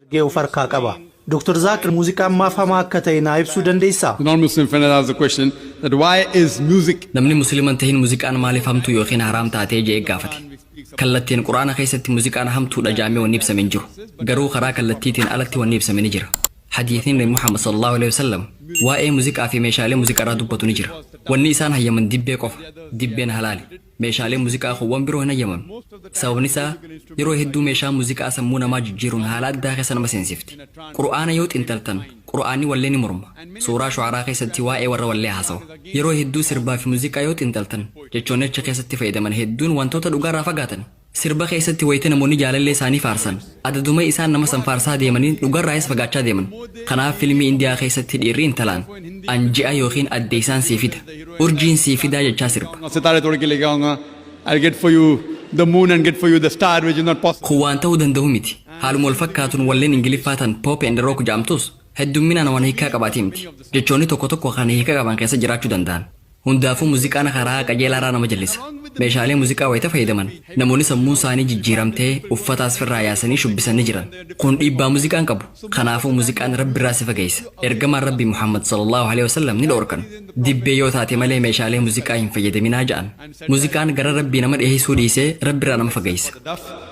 ergee of harkaa qaba. Dr. Zaakir muuziqaan maaf hamaa akka ta'e naa ibsuu dandeessaa? The non-Muslim friend has the question that why is music Namni musliman tahin muziqaan maaliif hamtuu yookiin haraam taatee je'e gaafate. Kallattiin Qur'aana keessatti muziqaan hamtuudha ja'amee wanni ibsame hin jiru. Garuu karaa kallattiitiin alatti wanni ibsame ni jira. Hadiisni Nabi Muhammad sallallaahu aleyhi wasallam waa'ee muziqaa fi meeshaalee muziqarraa dubbatu ni jira. Wanni isaan hayyaman dibbee qofa. Dibbeen halaali. Meeshaaleen muziqaa kun wan biroo hin hayyamamne. Sababni isaa yeroo hedduu meeshaan muziqaa sammuu namaa jijjiiruun haala addaa keessa nama seensifti. Qur'aana yoo xinxaltan Qur'aanni wallee ni morma. Suuraa Shu'araa keessatti waa'ee warra wallee haasawa. Yeroo hedduu sirbaa fi muuziqaa yoo xiinxaltan, jechoonni achi keessatti fayyadaman hedduun wantoota dhugaarraa fagaatani. Sirba keessatti wayita namoonni jaalallee isaanii faarsan, adaduma isaan nama san faarsaa deemaniin dhugarraayis fagaachaa deeman. Kanaaf filmii Indiyaa keessatti dhiirri intalaan, An ji'a ykn addeessaan sii fida, urjiin sii fidaa jechaa sirba. Kun waan ta'uu danda'u miti. Haaluma wal fakkaatuun walleen Ingiliffaa tan Pop and Rock ja'amtus heddumminaan waan hiikkaa qabaati mti. Jechoonni tokko tokko kan hiika qaban keessa jiraachuu danda'an. Hundaafuu muziqaan karaa qajeelaarraa nama jallisa. Meeshaalee muziqaa wayita fayyadaman namoonni sammuun saanii jijjiiramtee uffataas firraa yaasanii shubbisan ni jiran. Kun dhiibbaa muziqaan qabu. Kanaafuu muziqaan Rabbirraa si fageeysa. Ergamaan Rabbii Muhammad sallallaahu aleyhi wasallam ni dhoorkan. Dibbee yoo taate malee meeshaalee muziqaa hin fayyadaminaa ja'an. Muziqaan gara Rabbii nama dhiheeysuu dhiisee Rabbirraa nama fageeysa.